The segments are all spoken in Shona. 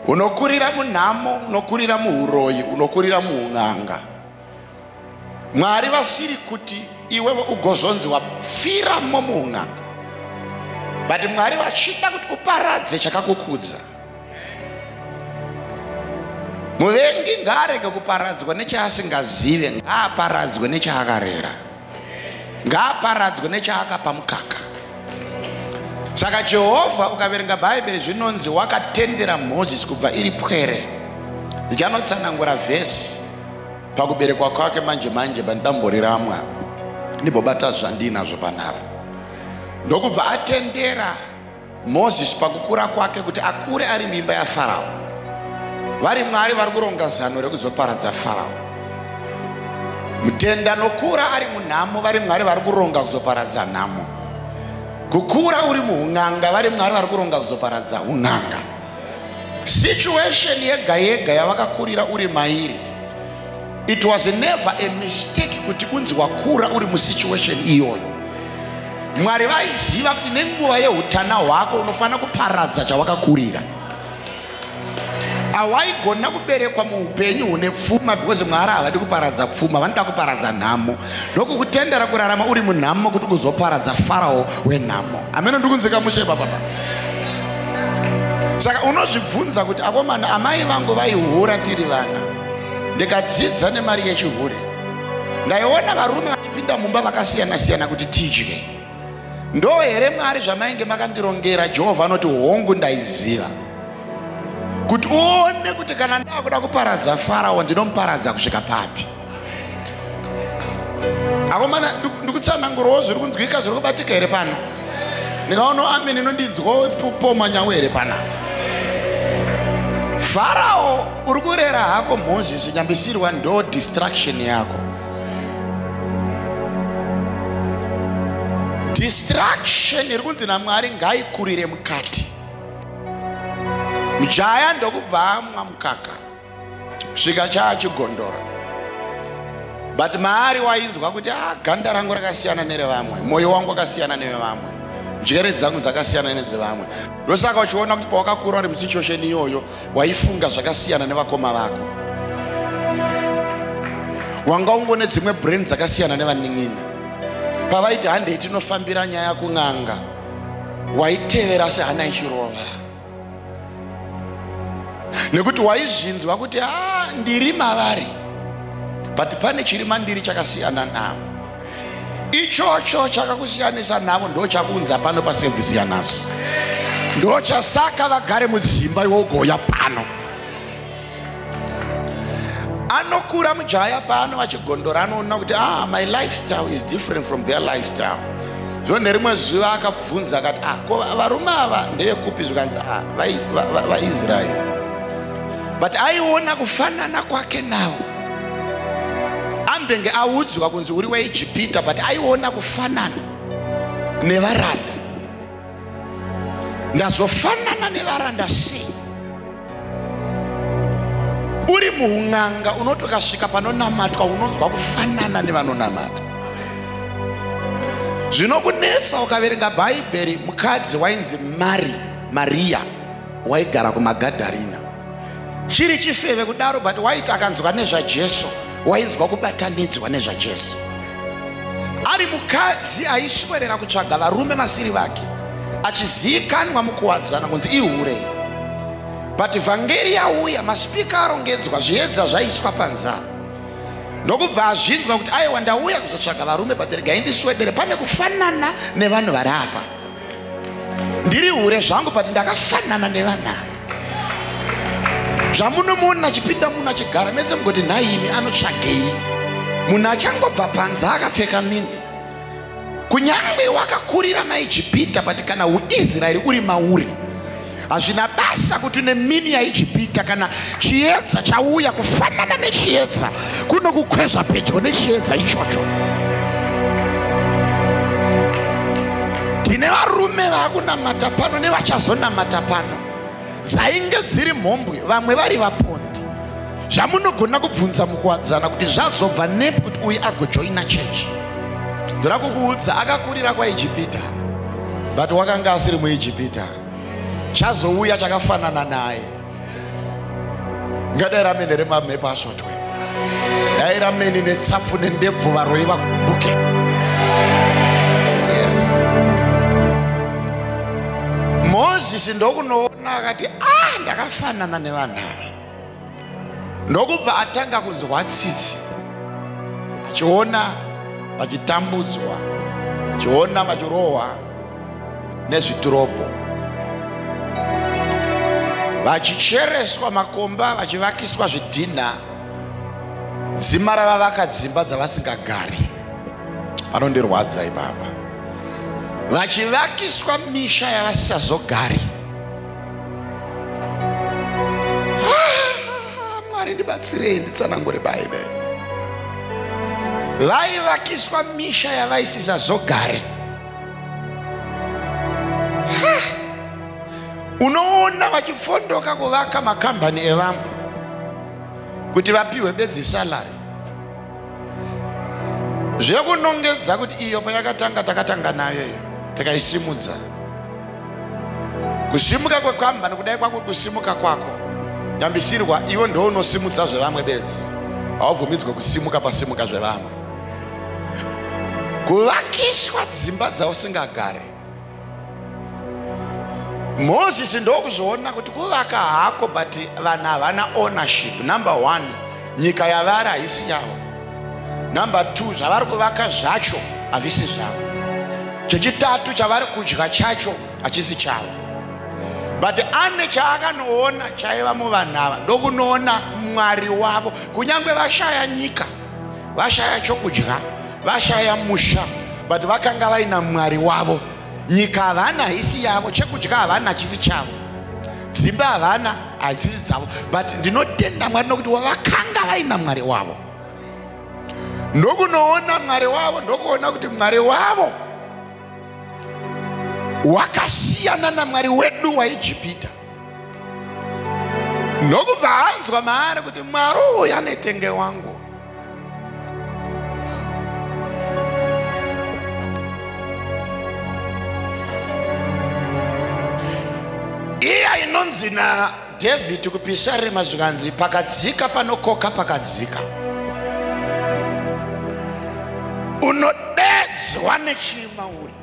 unokurira munhamo unokurira muuroyi unokurira muun'anga mwari vasiri kuti iwewe ugozonzi wapfiramo muun'anga but mwari vachida kuti uparadze chakakukudza muvengi ngaarege kuparadzwa nechaasingazive ngaaparadzwe nechaakarera ngaaparadzwe nechaakapa mukaka saka jehovha ukaverenga bhaibheri zvinonzi wakatendera mozisi kubva iri pwere ndichanotsanangura vhesi pakuberekwa kwake manje manje pandamboriramwa ndibobata zvandiinazvo panapa ndokubva atendera Moses pakukura kwake kuti akure ari mimba yaFarao. Vari Mwari vari kuronga zano rekuzoparadza Farao. Mutenda nokura ari munhamo vari Mwari vari kuronga kuzoparadza nhamo. Kukura uri muhun'anga vari Mwari vari kuronga kuzoparadza hun'anga. Situation yega yega yavakakurira uri mairi It was never a mistake kuti unzi wakura uri musituation iyoyo. Mwari vaiziva kuti nenguva yeutana hwako unofanira kuparadza chawakakurira. Hawaigona kuberekwa muupenyu hune pfuma because Mwari havadi kuparadza pfuma, vanoda kuparadza nhamo. Ndokukutendera kurarama uri munhamo kuti kuzoparadza Farao wenhamo. Ameno ndikunzika mushe baba baba. Saka unozvibvunza kuti akomana amai vangu vaihura tiri vana. ndikadzidza nemari yechihure ndaiona varume vachipinda mumba vakasiyana siyana kuti tidye ndo here mwari zvamainge makandirongera jehovha anoti hongu ndaiziva kuti uone kuti kana ndava kuda kuparadza farao ndinomuparadza kusvika papi akomana ndikutsanangurawo zviri kunzwika zviri kubatika here pano ndikaonawo amene inondinzwawo poma nyawo here pana farao uri kurera hako moses nyambisirwa ndo distraction yako distraction iri kunzi namwari ngaikurire mukati mjaya ndokubva amwa mukaka svika chaachigondora but maari wainzwa kuti a ah, ganda rangu rakasiyana nerevamwe mwoyo wangu wakasiyana nevevamwe njere dzangu dzakasiyana nedzevamwe ndosaka uchiona kuti pawakakura uri musituation iyoyo waifunga zvakasiyana nevakoma vako wanga ungone dzimwe brain dzakasiyana nevanin'ina pavaiti handei tinofambira nyaya kun'anga waitevera sehana ichirova nekuti waizvinzwa kuti a ah, ndiri mavari but pane chiri mandiri chakasiyana navo ichocho chakakusiyanisa navo ndo chakunza pano pasevhisi yanhasi ndochasaka vagare mudzimba iwo ugoya pano anokura mujaya paano achigondora anoona kuti ah my lifestyle is different from their lifestyle zvino nerimwe zuva akabvunza akati ah ko varume ava ndevekupi zvikanzi ah vaisraeri va, va, va but aiona kufanana kwake nawo ambenge audzwa kunzi uri waijipita but aiona kufanana nevaranda ndazofanana nevaranda sei uri muun'anga unoti ukasvika panonamatwa unonzwa kufanana nevanonamata zvinokunetsa ukaverenga bhaibheri mukadzi wainzi mari mariya waigara kumagadharina chiri chifeve kudaro but waiti akanzwa nezvajesu wainzwa kubatanidzwa nezvajesu ari mukadzi aiswerera kutsvaga varume masiri vake achiziikanwa mukuwadzana kunzi ihure but vhangeri yauya masipika arongedzwa zviedza zvaiswa panza ndokubva azvinzwa kuti aiwa ndauya kuzotsvaga varume but regai ndiswedere pane kufanana nevanhu vari apa ndiri hure zvangu but ndakafanana nevanaa zvamunomuona achipinda munhu achigara mese mugoti nhaimi anotsvagei munhu achangobva panze akapfeka mini kunyange wakakurira maijipita but kana uisraeri uri mauri Hazvina basa kuti nemini yaIjipita kana chiedza chauya kufanana nechiedza kunokukwezva pedyo nechiedza ichocho. Tine varume vakunamata pano nevachazonamata pano dzainge dziri mhombwe vamwe vari vapondi zvamunogona kubvunza mukuwadzana kuti zvazobva nepi kuti uyu agojoina chechi ndoda kukuudza akakurira kwaijipita but wakanga asiri muijipita chazouya chakafanana naye ngadai ramene remamhepo asotwe dai ramene netsapfu nendebvu varoi vakumbuke yes. mozisi ndokunoona akati ah ndakafanana nevanhu ava ndokubva atanga kunzwa tsitsi achiona vachitambudzwa achiona vachirohwa nezvitirobho vachichereswa makomba vachivakiswa zvidhinha dzima ravavaka dzimba dzavasingagari panondirwadza ipapa vachivakiswa misha yavasisazogari Ah, mwari ndibatsirei nditsanangure baibe vaivakiswa misha yavaisiza zogare unoona vachipfondoka kuvaka makambani evamwe kuti vapiwe bedzi salary zvekunongedza kuti iyo payakatanga takatanga nayo iyo tikaisimudza kusimuka kwekambani kudai kwako kusimuka kwako nyambisirwa iwe ndo unosimudza zvevamwe bedzi haubvumidzwe kusimuka pasimuka zvevamwe kuvakiswa dzimba dzausingagare moses ndokuzviona kuti kuvaka hako but vanhu havana ownership number one nyika yavari haisi yavo number two zvavari kuvaka zvacho havisi zvavo chechitatu chavari kudya chacho hachisi chavo but ane chaakanoona chaiva muvanhu ava ndokunoona mwari wavo kunyange vashaya nyika vashaya chokudya vashaya musha but vakanga vaina mwari wavo nyika havana haisi yavo chekudya havana hachisi chavo dzimba havana hadzisi dzavo but ndinotenda mwari nokuti wavakanga vaina mwari wavo ndokunoona mwari wavo ndokuona kuti mwari wavo wakasiyana namwari wedu waijipita ndokubva anzwa maari kuti mwari uyu anetenge wangu iya inonzi nadhavhidhi kupisarema zvikanzi pakadzika panokoka pakadzika unodedzwa nechimauri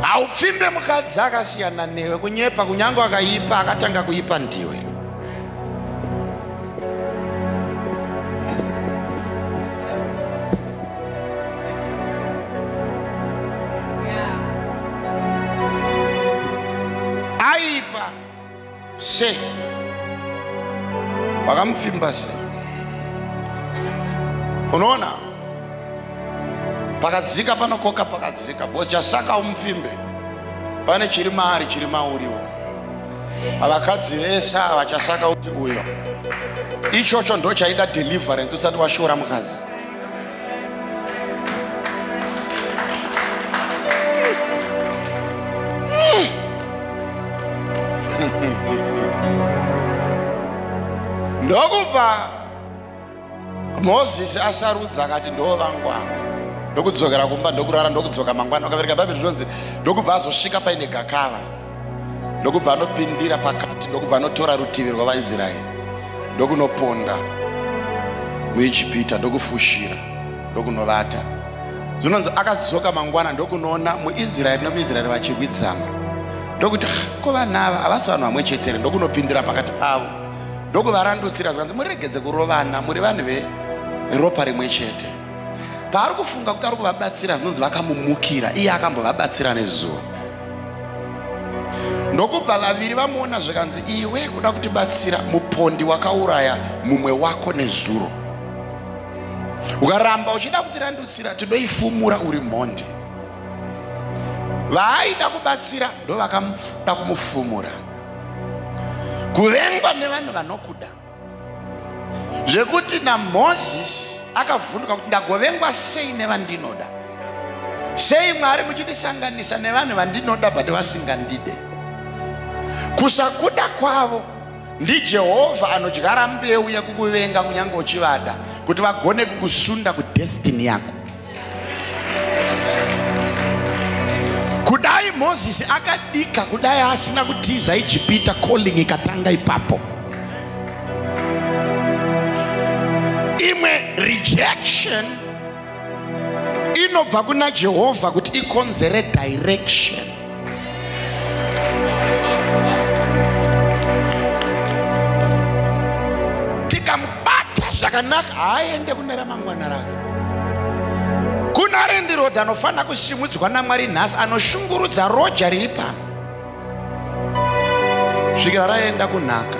haupfimbe mukadzi akasiyana newe kunyepa kunyange akaipa akatanga kuipa ndiwe sei wakamupfimba sei unoona pakadzika panokoka pakadzika bcause chasaka umupfimbe pane chiri maari chiri mauriwo avakadzi vese ava chasaka uti uyo ichocho ndochaida deliverance usati washora mukadzi ndokubva mozisi asarudza akati ndoo vangu avo ndokudzokera kumba ndokurara ndokudzoka mangwana ukavereka bhaibheri zvinonzi ndokubva azosvika paine gakava ndokubva anopindira pakati ndokubva anotora rutivi rwavaisraeri ndokunoponda muijipita ndokufushira ndokunovata zvinonzi akadzoka mangwana ndokunoona muisraeri nomuisraeri vachirwidzana ndokuti ah, ko vanhu ava havasi vanhu vamwe chetere ndokunopindira pakati pavo ndokuvarandutsira zvikanzi muregedze kurovana muri vanhu veropa rimwe chete paari kufunga kuti ari kuvabatsira zvinonzi vakamumukira iye akambovabatsira nezuva ndokubva vaviri vamuona zvikanzi iwe kuda kutibatsira mupondi wakauraya mumwe wako nezuro ukaramba uchida kutirandutsira tidoifumura uri mhondi vaaida kubatsira ndovakada kumufumura kuvengwa nevanhu vanokuda zvekuti namozisi akavhunduka kuti ndagovengwa sei nevandinoda sei mwari muchindisanganisa nevanhu vandinoda but vasingandide kusakuda kwavo ndijehovha anodyara mbeu yekukuvenga kunyange uchivada kuti vagone kukusunda kudestini yako kudai mozisi akadika kudai asina kutiza ijipita calling ikatanga ipapo imwe rejection inobva kuna jehovha kuti ikonzere direction tikamubata zvakanaka haaende kune ramangwana rako kuna rendirodha anofanira kusimudzwa namwari nhasi anoshungurudza roja riri pano svikira raenda kunhaka